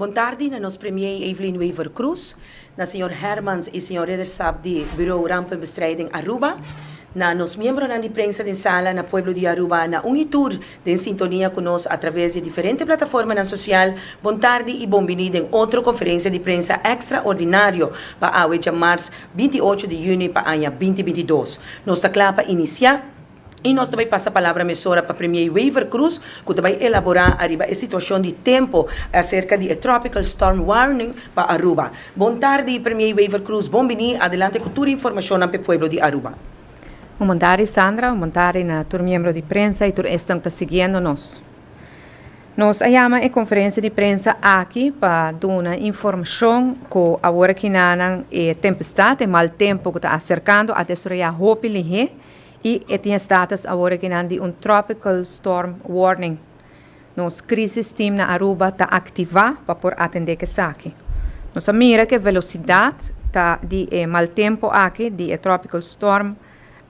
Bon tardi na nos Premier Evelyn Wever Croes, na Señor Hermans y Señor Ridderstap di Bureau Rampenbestrijding Aruba, na nos miembronan di prensa den Sala, na pueblo di Aruba, na un hitur Den sintonia cu nos a traves di e diferente plataformanan social, bon tardi y bon bini den otro conferencia di prensa extraordinario pa awe djamars binti i ocho di juni pa aña binti binti i dos. Nos ta cla pa inicia y nos ta bay pasa palabra mesora pa Premier Wever Croes cu ta bay elabora ariba e situacion di tempo acerca di e Tropical Storm Warning pa Aruba. Bon tardi Premier Wever Croes, bon bini, adelante cu tur e informacionnan pa e pueblo di Aruba. Un bontadi Sandra, un bontadi na tur miembro di prensa y tur esnan ta siguiendo nos. Nos a yama e conferencia di prensa aki pa duna informacion cu awor aki nanan e tempestad, e mal tempo cu ta acercando a destroya hopi lihé y e tin estatus awor aki nan di un tropical storm warning Nos Crisis Team na Aruba ta activá pa por atendé k'esaki. Nos a mira k'e velosidat ta di e mal tempo aki di e tropical storm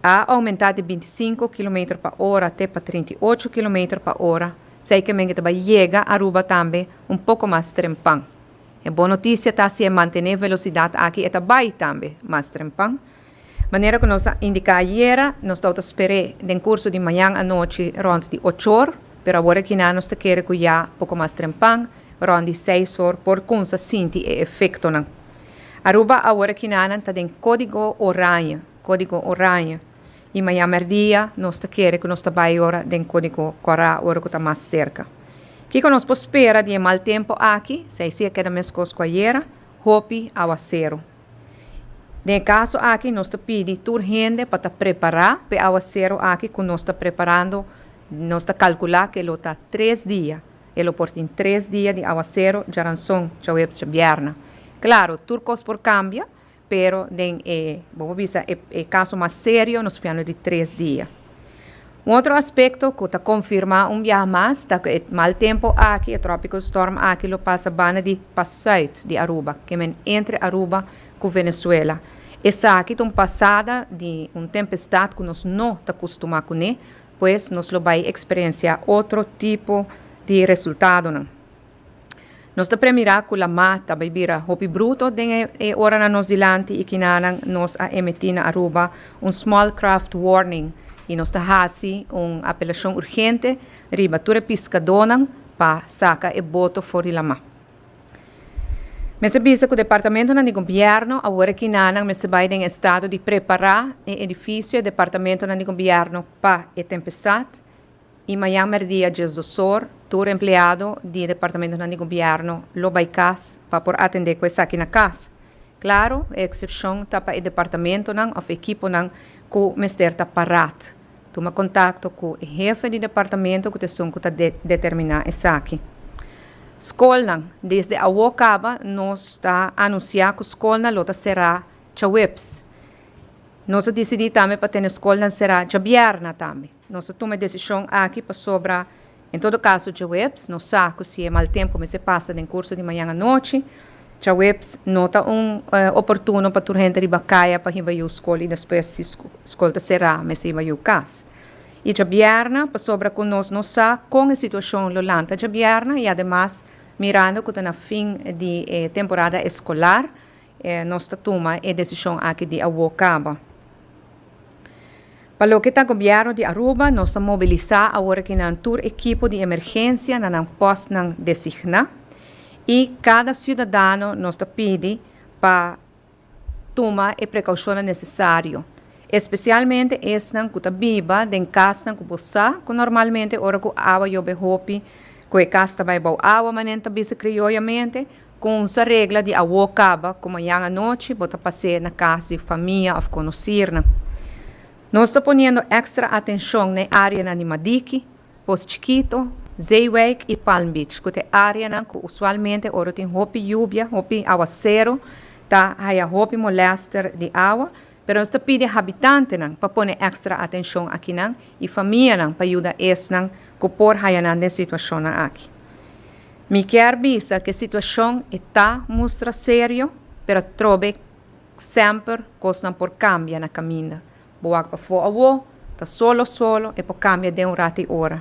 a oumentá di binti sinku kilometer pa ora te pa trinta i ocho kilometer pa ora, sey k'e men ke ta bai yega Aruba tambe un poko mas trempan. E bon notisia ta si e mantené velosidat aki e ta bai tambe mas trempan. Manera ku nos a indiká ayera, nos tabata ta sper'é den kurso di mañan anochi rònt di ochor, pero awor aki nan nos ta kere ku ya poko mas trempan, rònt di seis or, por kumsa sinti e efektonan. Aruba awor aki nan nan ta den kódigo oraña, kódigo oraña, i mañan mèrdia nos ta kere ku nos ta bai ora den kódigo kòrá, ora ku ta mas serka. Kiko nos por spera di e mal tempu aki? Seise'a keda meskos ku ayera, hopi awaseru. Den e kaso aki nos ta pidi tur hende pa ta prepará pa e awasero aki ku nos ta preparando, nos ta kalkulá ke lo ta tres dia, e lo por tin tres dia di awasero, djaranson, djahuebes, djabierna. Klaro, tur kos por kambia, pero den e, bo por bisa, e kaso mas serio nos fiando di tres dia. Un otro aspekto ku ta konfirmá un biaha mas ta ku e mal tempu aki, e tropical storm aki lo pasa banda di pa sùit di Aruba, ke men entre Aruba ku Venezuela. Esaki ta un pasada di un tempestat ku nos no ta kustumá kuné, pues nos lo bai eksperensiá otro tipo di resultadonan. Nos ta premirá ku lamá ta bai bira hopi bruto den e oranan nos dilanti i kinanan nos a emití na Aruba un small craft warning i nos ta hasi un apelashon urgente riba tur e piskadónan pa saka e boto for di lamá. Mester bisa ku departamentonan di gobièrnu awor kinanan mester bai den estado di prepará e edifisio e departamentonan di gobièrnu pa e tempestat, I mañan mèrdia djes dosor, tur empleado di departamentonan di gobièrnu lo bai kas pa por atendé ku esaki na kas. Klaru, e eksepshon ta pa e departamentonan òf ekiponan ku mester ta parát. Tuma kontakto ku e hefe di departamento ku ta esun ku ta determiná esaki. Skolnan, Desde awo kaba nos ta anunsiá ku skolnan lo ta será djaweps. Nos a disidí tambe pa tene skolnan será djabièrna tambe. Nos a tuma e desishon aki pasobra, en todo kaso, djaweps no sa ku si e mal tempu mester pasa den kurso di mañan anochi. Djaweps no ta un oportuno pa tur hende riba kaya pa hiba yu skol i despues si skol ta será mester hiba yu kas. I djabièrna pasobra ku nos no sa kon e situashon lo lanta djabièrna i ademas mirando ku ta na fin di e temporada eskolar Nos ta tuma e desishon aki di awo kaba. Pa loke ta Gobièrnu di Aruba, nos ta mobilisá awor aki nan tur ekipo di emergensia na nan pòstnan designá i kada siudadano nos ta pidi pa tuma e prekaushonnan nesesario, espesialmente esnan ku ta biba den kasnan ku bo sa ku normalmente ora ku awa yobe hopi ku e kas ta bai bou awa, manen ta bisa krioyamente. Konsa regla di awo kaba ku mañan anochi bo ta pas'é na kas di famia òf konosirnan. Nos ta poniendo èkstra atenshon na e áreanan di Madiki, Post Chikito, Zeewijk i Palm Beach ku ta e áreanan ku usualmente ora tin hopi yubia, hopi awasero, ta haya hopi molèster di awa Pero nos ta pidi habitantenan pa pone èkstra atenshon akinan i famianan pa yuda esnan ku por haya nan den situashonnan aki. Mi kier bisa ku e situashon e ta mustra serio, pero trobe semper kosnan por kambia na kaminda. Bo wak pafó awó, ta solo solo, e por kambia den un rati ora.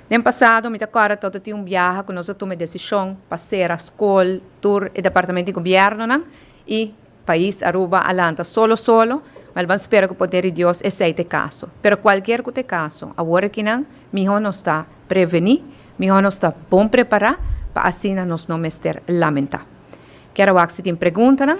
Den pasado mi ta kòrda tok ta tin un biaha ku nos a tuma e desishon pa sera skol tur e departamento di gobièrnunan i. Pais Aruba a lanta solo solo, ma el ban spera ku poder di Dios esei ta e kaso. Pero kualkier ku ta e kaso, awor akinan mihó nos ta prevení, mihó nos ta bon prepará pa asina nos no mester lamentá. Kier a wak si tin preguntanan.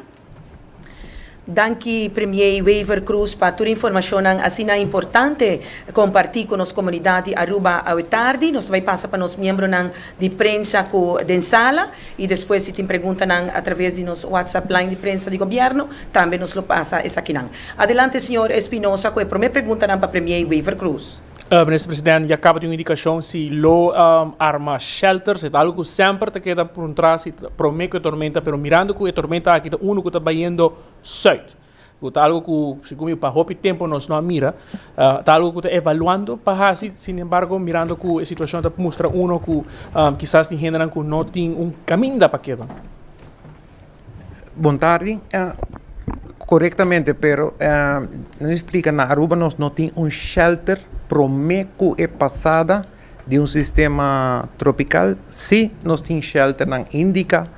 Danki Premier Wever Croes pa tur informashonnan asina importante kompartí ku nos komunidat di Aruba awe tardi. Nos ta bai pasa pa nos miembronan. di prensa cu den sala y despues si tin preguntanan a traves di nos WhatsApp line di prensa di Gobierno tambe nos lo pasa esakinan. Adelante señor Espinosa cu e prome preguntanan pa Premier Wever Croes. Minister President, ya caba di un indicacion si lo arma shelters, e ta algo cu semper ta keda puntra si ta prome cu e tormenta pero mirando cu e tormenta aki ta uno cu ta bayendo zuid. Cu ta algo cu, sigun mi pa hopi tempo nos no a mira. Ta algo cu ta evaluando pa haci, sin embargo mirando cu e situacion ta mustra uno cu kisas tin hendenan cu no tin un caminda pa keda. Bon tardi, corectamente pero nan a splica na Aruba nos no tin un shelter prome cu e pasada Di un sistema tropical si nos tin shelternan indica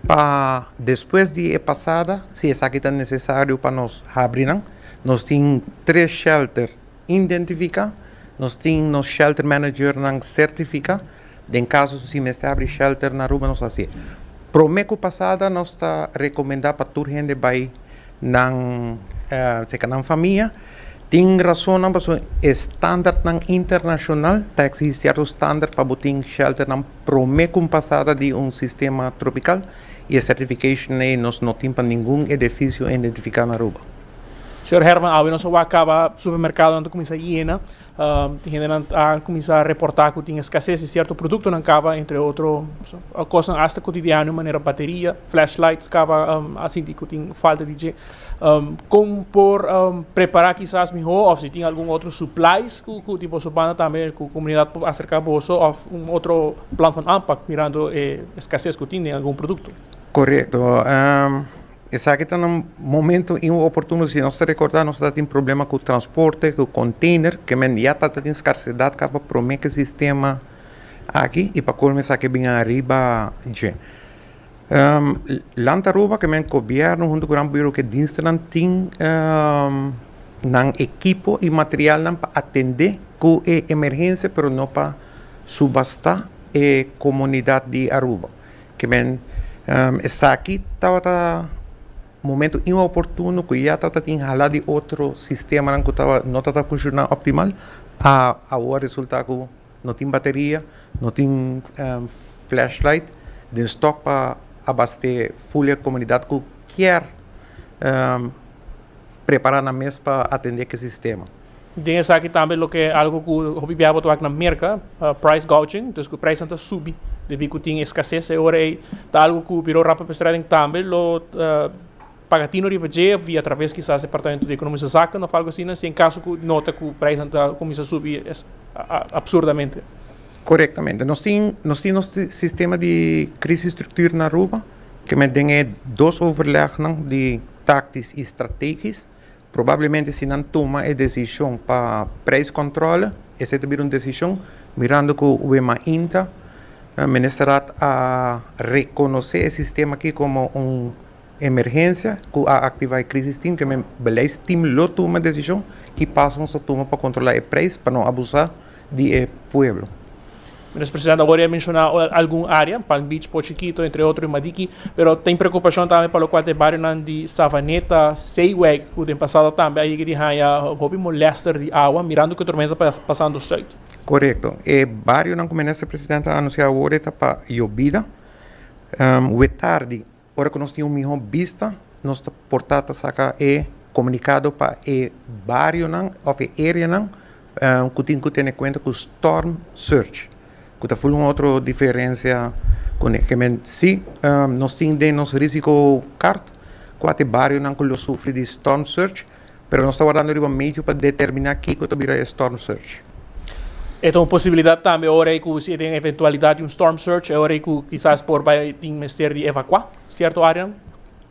pa despues di e pasada si esaki ta necesario pa nos habrinan nos tin tres shelter identifica nos tin nos shelter managernan certifica den caso si mester habri shelter na Aruba nos hacié prome cu pasada nos ta recomenda pa tur hende bay Nan, serka nan famia, tin rasonnan pasobra e standartnan internashonal ta eksigí sierto standart pa bo tin shelternan promé ku un pasada di un sistema tropikal i e certification ei nos no tin pa ningun edefisio identifiká na Aruba. Señor Herman, awe nos a wak kaba supermerkadonan ta kuminsá yena. Hendenan a kuminsá reportá ku tin eskasés di sierto produktonan kaba, entre otro kosnan asta kotidiano manera bateria, flashlights kaba, a sinti ku tin falta di dje. Kon por prepará kisas mihó òf si tin algun otro suplais ku di boso banda tambe ku komunidat por aserká boso òf un otro plan van aanpak mirando e eskasés ku tin den algun produkto? Korekto. Esaki ta na momento y un oportuno si nos ta recorda nos ta tin problema cu transporte, cu container, que men ya ta tin scarcedad ca pa prome ca e sistema aki y pa colmo esaki bin ariba dje. Land Aruba que men gobierno hunto cu nan buro cu e dienstennan tin nan ekipo y materialnan pa atende cu e emergencia pero no pa subasta e comunidad di Aruba. Kimen, esaki tabata momento inoportuno ku ya tabata tin hala di otro sistemanan ku no tabata funshoná optimal, a awoa resultá ku no tin bateria, no tin flashlight den stòk pa abast'é ful e komunidat ku kier prepará nan mes pa atendé ki sistema. Den esaki tambe loke algo ku hopi bia bo ta wak na Merka, price gouging, dus ku preisnan ta subi debí ku tin eskases. E ora ei ta algo ku Birou Rampebestreding tambe lo paga tino riba dje òf via atraves kisas Departamento di Ekonomiese Zaken òf algu asina si en kaso ku nota ku preisnan ta kuminsá subi absurdamente. Korektamente. Nos tin nos tin nos sistema di krisis struktur na Aruba, kiemen den e dos overlegnan di taktis i strategis. Probablemente si nan tuma e desishon pa preiskontrole, esei ta bira un desishon mirando ku Wemainta Ministerat a rekonosé e sistema akí komo un emergensia ku a aktivá e Krisis Team, ke men Beleidsteam lo tuma desishon ki pasonan ta tuma pa kontrolá e preis pa no abusá. di e pueblo. Minister President awor ya menciona algun area, Palm Beach, Pochi Kito, entre otro, i Madiki, pero tin preocupacion tambe pa locual ta e barionan di Savaneta, Seyweg, cu den pasado tambe a yega di haya hopi molester di awa, mirando cu e tormenta ta pasando Zuid. Correcto. E barionan cu Minister President a anuncia awor e ta pa Yobida, Wetardi, Ora ku nos tin un mihó bista, nos ta por ta ta saka e komunikado pa e barionan òf e areanan ku tin ku tene kuenta ku storm surge, ku ta ful un otro diferensia ku e kemen. Sí, nos tin den nos risiko kart kuater barionan ku lo sufri di storm surge, Pero nos ta wardando riba medio pa determiná kiko ta bira e storm surge. E ta un posibilidat tambe ora ei ku si e den eventualidat di un storm surge e ora ei ku kisas por bai tin mester di evakuá sierto áreanan.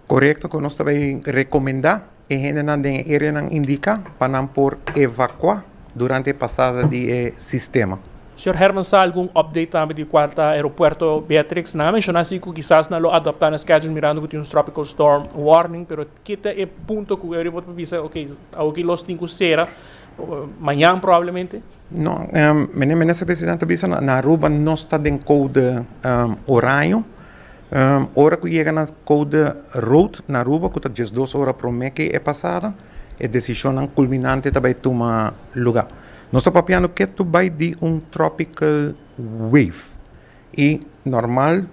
Korekto ku nos ta bai rekomendá e hendenan den e areanan indiká pa nan por evakuá durante e pasada di e sistema. Señor Herman sa algun update tambe di kua ta Aeropuerto Beatrix? Nan a menshoná si ku kisas nan lo adoptá nan schedule mirando ku tin un tropical storm warning pero Ki ta e punto ku Euri por ta bisa ok, awor ki los tin ku sera, mañan probablemente? No, menen Minister Presidente a bisa, na Aruba nos ta den koude oraño, ora ku yega na koude rood na Aruba ku ta diesdos ora promé ke e pasada e desishonnan kulminante ta bai tuma lugá. Nos ta papiando ketu bai di un tropical wave i normal.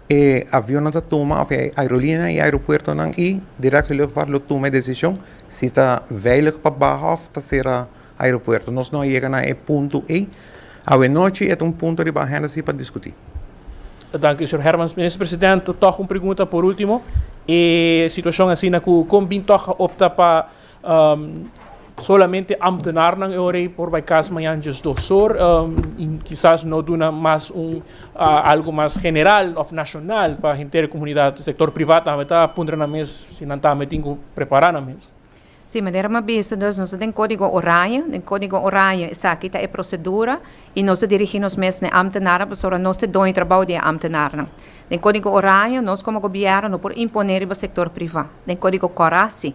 E avionnan ta tuma, òf e aerolinianan, e aeropuertonan i Direktie Luchtvaart lo tuma e desishon si ta veilig pa baha òf ta sera aeropuerto. Nos no a yega na e punto ei. Awenochi e ta un punto riba ahenda si pa diskutí. Danki, señor Hermans. Minister President, tòg un pregunta por último. E situashon asina ku kon bin tòg a opta pa. Solamente ambtenarnan e ora ei por bai kas mañan djes dos or i kisas no duna mas un algu mas general òf nashonal pa henter e komunidat. Sektor privat tambe ta puntra nan mes si nan tambe tin ku prepará nan mes. Sí, manera mi a bisa dus, nos ta den Kódigo Oranje. Den Kódigo Oranje esaki ta e prosedura i nos ta dirigí nos mes na e ambtenarnan pasobra nos ta e doño trabou di e ambtenarnan. Den Kódigo Oranje nos komo gobièrnu no por imponé riba sektor privá. Den Kódigo Kòrá sí.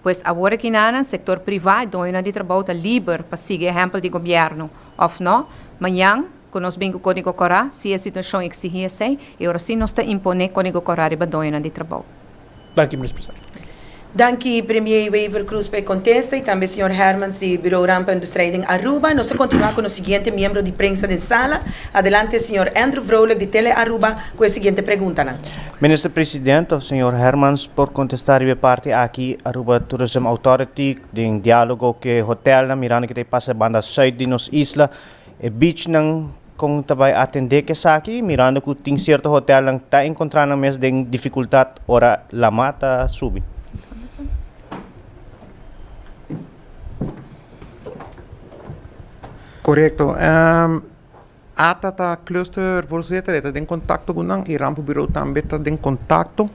Pues awor aki nanan sektor privá i doñonan di trabou ta liber pa sigui ehèmpel di gobièrnu, òf nò? Mañan ku nos bin ku Kódigo Kòrá, si e situashon eksigí esei, e ora sí nos ta imponé Kódigo Kòrá riba doñonan di trabou. Danki, Minis Presidente. Danki, Premier Wever Croes pa e kontesta i tambe señor Hermans di Bureau Rampa en Bestrijding Aruba. Nos ta kontinuá ku nos siguiente miembro di prensa den sala. Adelante, señor Andrew Vrolijk di Tele Aruba ku e siguiente preguntanan. Minister Presidente, Señor Hermans por contesta riba e parti aki, Aruba Tourism Authority den dialogo cu e hotelnan mirando kico ta pasa e banda zuid di nos isla, e beachnan con ta bay atende cu esaki mirando cu tin cierto hotelnan ta encontra nan mes den dificultad ora la mar ta subi? Correcto. Ata ta Cluster Voorzitter, e ta den contacto cu nan y Ramp Bureau tambe ta den contacto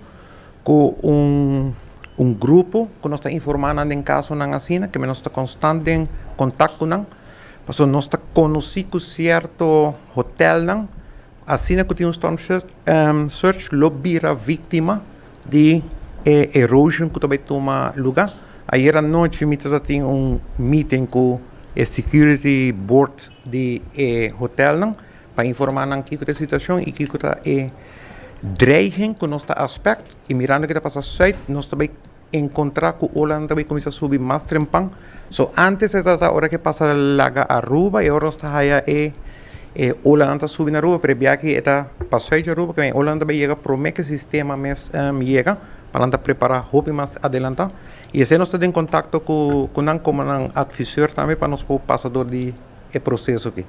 cu un grupo cu nos ta informa nan den casonan asina, keme nos ta constant den contact cu nan, pasobra nos ta conoci cu cierto hotelnan asina cu tin un storm surge lo bira victima di e erosion cu ta bay tuma lugar. Ayer anochi mi ta tin un meeting cu e security board. di e hotelnan pa informa nan kiko ta e situacion y kiko ta e dreiging cu nos ta aspect y mirando kico ta pasa Zuid nos ta bay encontra cu olanan ta bay cuminsa subi mas trempan so antes ta trata ora ke pasa laga Aruba y ahora nos ta haya e e olanan ta subi na Aruba pero e biachi e ta pa Zuid cu Aruba e olanan ta bay yega prome ke sistema mes yega pa nan ta prepara hopi mas adelanta. I esei nos ta den kontakto ku nan komo nan atvisor tambe pa nos por pasa dor di e proseso aki.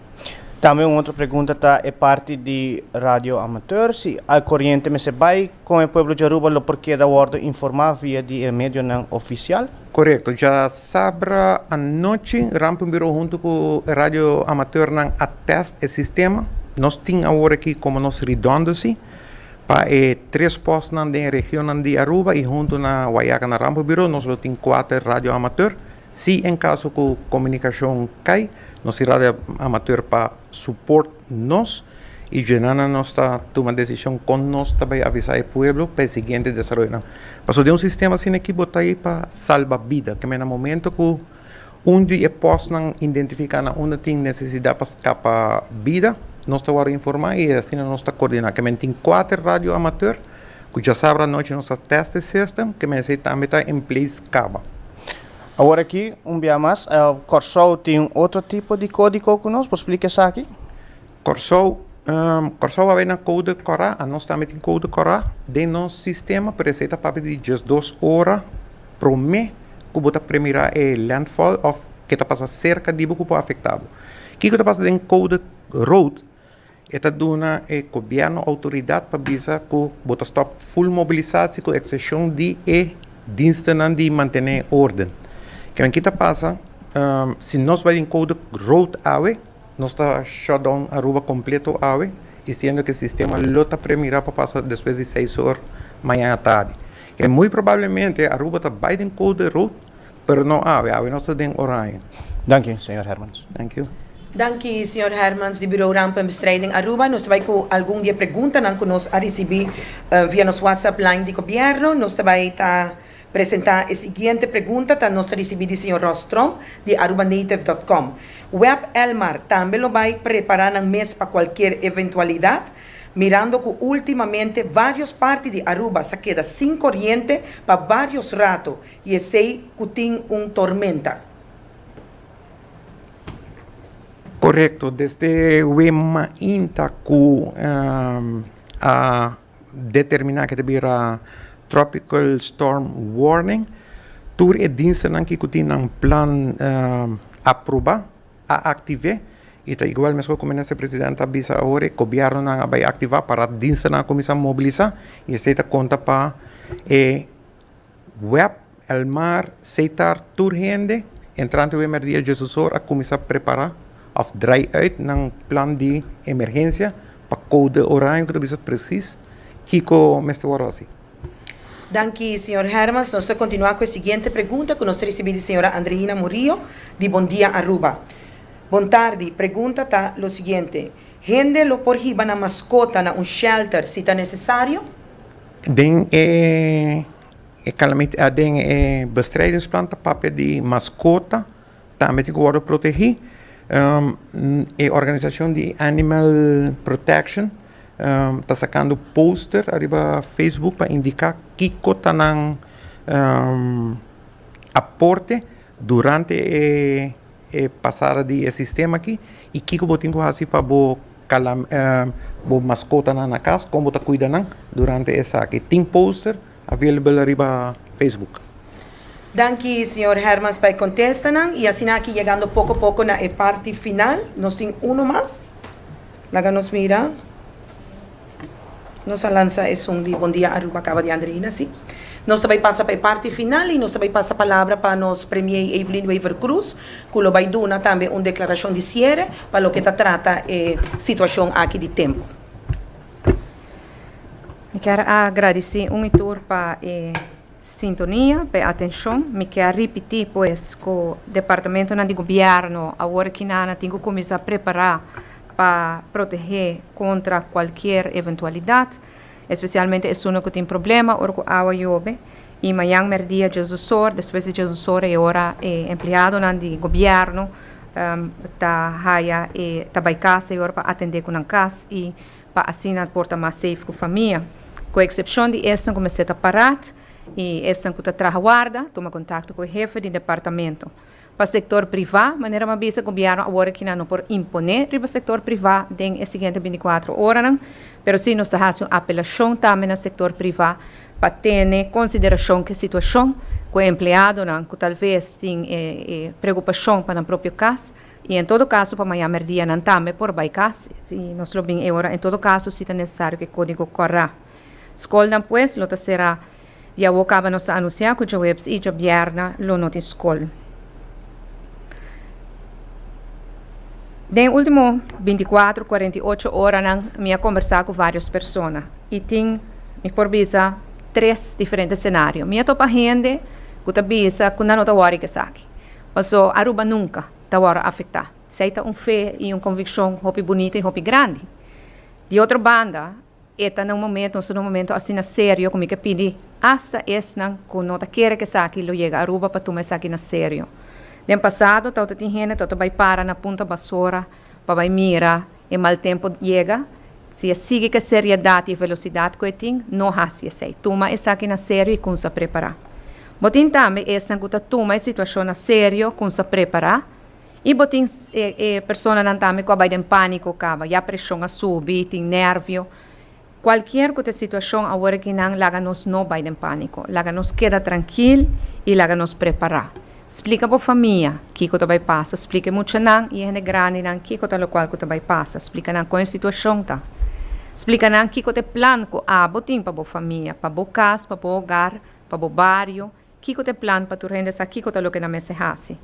Tambe un otro pregunta ta e parti di radio amateur, si al koriente mester bai, kon e pueblo di Aruba lo por keda wòrdu informá via di e medionan ofisial? Korekto, djasabra anochi Ramping Bureau huntu ku e radio amateurnan a tèst e sistema. Nos tin awor aki komo nos ridòndosi. Pa e tres postnan den e regionnan di Aruba y hunto na Guayaca na Rambo Bureau nos lo tin cuater radio amateur. Si en caso cu comunicacion cay, nos tin radio amateur pa support nos y djunannan nos ta tuma decision con nos ta bay avisa e pueblo pa e siguiente desaroyonan. Pasobra den un sistema asina aki bo ta ey pa salba bida, keme na momento cu. Un di e pòstnan identifiká na unda tin nesesidat pa skapa bida, nos ta wòrdu informá i asina nos ta koordiná. Ke men tin kuater radioamatèr ku djasabra anochi nos ta tèsta e sistem, ke men esei tambe ta en plei skaba. Awor aki un bia mas, Kòrsou tin otro tipo di kódiko ku nos por splika esaki? Kòrsou Kòrsou a bay na koude kòrá a nos tambe tin koude kòrá den nos sistema pero esei ta papia di djes dos ora promé ku bo ta premirá e lèntfòl òf ke ta pasa serka di bo ku por afektá bo kiko ta pasa den koude road e ta duna e gobièrnu outoridat pa bisa ku bo ta stòp ful mobilisasi ku eksepshon di e dinstenan di mantené órden kimen ki ta pasa si nos bay den koude road awe. Nos ta shutdown Aruba completo awe y siendo que sistema lo ta premira pa pasa despues di seis or mañana tardi. E muy probablemente Aruba ta bay den code rood pero no awe, awe nos ta den oranje. Danki Señor Hermans. Danki. Danki Señor Hermans di Bureau Ramp en Bestrijding Aruba. Nos ta bay cu algun di e preguntanan cu nos a ricibi via nos WhatsApp line di Gobierno. Nos ta bay ta. Presentá e siguiente pregunta ta nos ta risibí di señor Ross Strom di Arubanetive dot com, Web Elmar tambe lo bai prepará nan mes pa kualkier eventualidat, mirando ku últimamente vários parti di Aruba sa keda sin koriente pa vários rato i esei ku tin un tormenta? Korekto, desde web mainta ku a determiná ku ta bira tropical storm warning. Tur e dienstenan ku tin nan plan aprobá a aktiv'é i ta igual meskos ku Minister Presidente a bisa awor e gobièrnunan a bai aktivá para dienstenan a kuminsá mobilisá i esei ta konta pa e. Web el mar seitar tur hende entrante web mer dia Jesus or a kuminsá prepara of drai uit nan plan di emergensia pa koude oraño ku ta bisa presis kiko mester wòrdu hasi. Danki señor Hermans, nos ta kontinuá ku e siguiente pregunta ku nos ta risibí di señora Andreina Murillo di Bon Dia Aruba. Bon tardi, pregunta ta lo siguiente, hende lo por hiba nan maskota na un shelter si ta nesesario? Den e calamidad, den e bestrijdingsplan ta papia di mascota tambe tin cu wordo protegi. E organisacion di Animal Protection ta sacando poster ariba Facebook pa indica kico ta nan aporte durante e. e pasada di e sistema aki y kiko bo tin cu haci pa bo cala bo mascotanan na cas, con bo ta cuida nan durante esaki. Tin poster available ariba Facebook. Danki señor Hermans pa e contestanan y asina aki yegando poco poco na e parti final. Nos tin uno mas. Laga nos mira. Nos a lansa e son di Bon Dia Aruba kaba di Andreina si. Nos ta bai pasa pa e parti final i nos ta bai pasa palabra pa nos Premier Evelyn Wever-Croes ku lo bai duna tambe un deklarashon di siere pa loke ta trata e situashon aki di tempu. Mi kier a gradisé un i tur pa e. Sintonia p'e atenshon. Mi ke a ripití pues ku departamentunan di gobièrnu awor ekinana tin ku kuminsá prepará pa protehé kontra kualkier eventualidat, espesialmente esunnan ku tin problema ora ku awa yobe. I mañan mèrdia dies dos ora, despues di dies dos ora e ora e empleadonan di gobièrnu ta haya e ta bai kasa e ora pa atendé ku nan kas i. pa asina por ta mas safe ku famia, ku eksepshon di esnan ku mester ta parat i esnan ku ta traha warda, tuma kontakto ku e hefe di departamento. Pa sektor privá, manera m'a bisa, gobièrnu awor aki nan no por imponé riba sektor privá den e siguiente binticuatro oranan, pero sí nos ta hasi un apelashon tambe na sektor privá pa tene konsiderashon ku e situashon ku e empleadonan ku talves tin e preokupashon pa nan propio kas, I en todo kaso pa maña merdia nan tambe por bai kas i nos lo bin e ora. En todo kaso si ta nesesario ku e kódigo kòrá. Skolnan pues lo ta será. Di awó kaba nos ta anunsiá ku djoebes i djobièrna lo no tin skol. Den e último bintikuatro, kuarenta i ocho oranan mi a kombersá ku vários persona i tin, mi por bisa, tres diferente senario. Mi a topa hende ku ta bisa ku nan no ta wòri ku esaki. Paso Aruba nunca ta worde afecta. Esey ta un fe y un conviccion hopi bunita y hopi grandi. Di otro banda, e ta na un momento, nos ta na un momento asina serio cu mi ke pidi hasta esnan cu no ta kere cu esaki lo yega Aruba pa tuma esaki na serio. Den pasado tawata tin hende tawata bay para na Punta Basora pa bay mira E mal tempo yega, si e sigui cu e seriedad y e velocidad cu e tin, no haci esey. Tuma esaki na serio y cunsa prepara. Bo tin tambe esnan cu ta tuma e situacion na serio, cunsa prepara, y bo tin e personanan tambe cu a bay den panico caba, ya presion a subi, tin nervio. Cualkier cu ta e situacion awor aki nan, laga nos no bay den panico. Laga nos keda trankil y laga nos prepara. Splica bo famia kico ta bay pasa. Splica e muchanan y e hende grandinan kico ta locual cu ta bay pasa. Splica nan con e situacion ta. Splica nan kico ta e plan cu abo tin pa bo famia, pa bo cas, pa bo hogar, pa bo bario. Kiko ta e plan pa tur hende sa kiko ta loke nan mester hasi?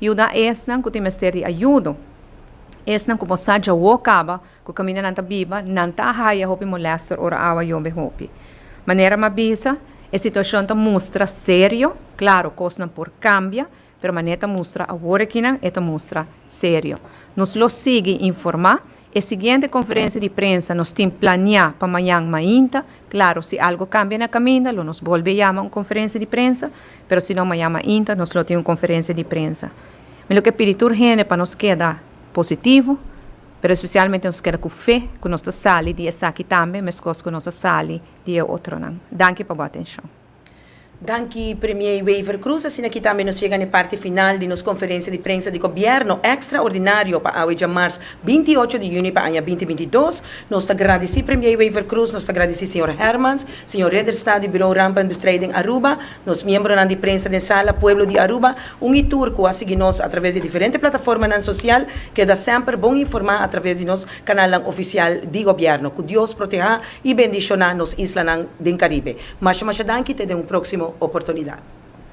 Yuda esnan ku tin mester di ayudo. Esnan ku por sa djawo kaba ku kaminda nan ta biba, nan ta a haya hopi molèster ora awa yombe hopi. Manera m'a bisa, e situashon ta mustra serio. Klaru, kosnan por kambia. Pero manera e ta mustra awor aki nan, e ta mustra serio. Nos lo sigui informá. E siguiente konferensia di prensa nos tin planiá pa mañan mainta. Klaru, si algu kambia na kaminda lo nos bolbe yama un konferensia di prensa, pero si no mañan mainta nos lo tin un konferensia di prensa. Mi lo ke pidi tur hende pa nos keda positivo, pero espesialmente nos keda ku fe ku nos ta sali di esaki tambe meskos ku nos a sali di e otronan. Danki pa bo atenshon. Danki Premier Wever Croes, asina ki tambe nos yega na e parti final di nos konferensia di prensa di gobièrnu ekstraordinario pa awe djamars binti i ocho di yunie pa aña binti binti dos. Nos ta gradisí Premier Wever Croes, nos ta gradisí señor Hermans, señor Ridderstad di Bureau Rampenbestrijding Aruba, nos miembronan di prensa den sala, pueblo di Aruba, un i tur ku a sigui nos a traves di e diferente plataformanan sosial, keda semper bon informá a traves di nos kanalnan ofisial di gobièrnu. Ku Dios protehá. I bendishoná nos islanan den Karibe. Masha masha danki te den un próksimo oportunidat.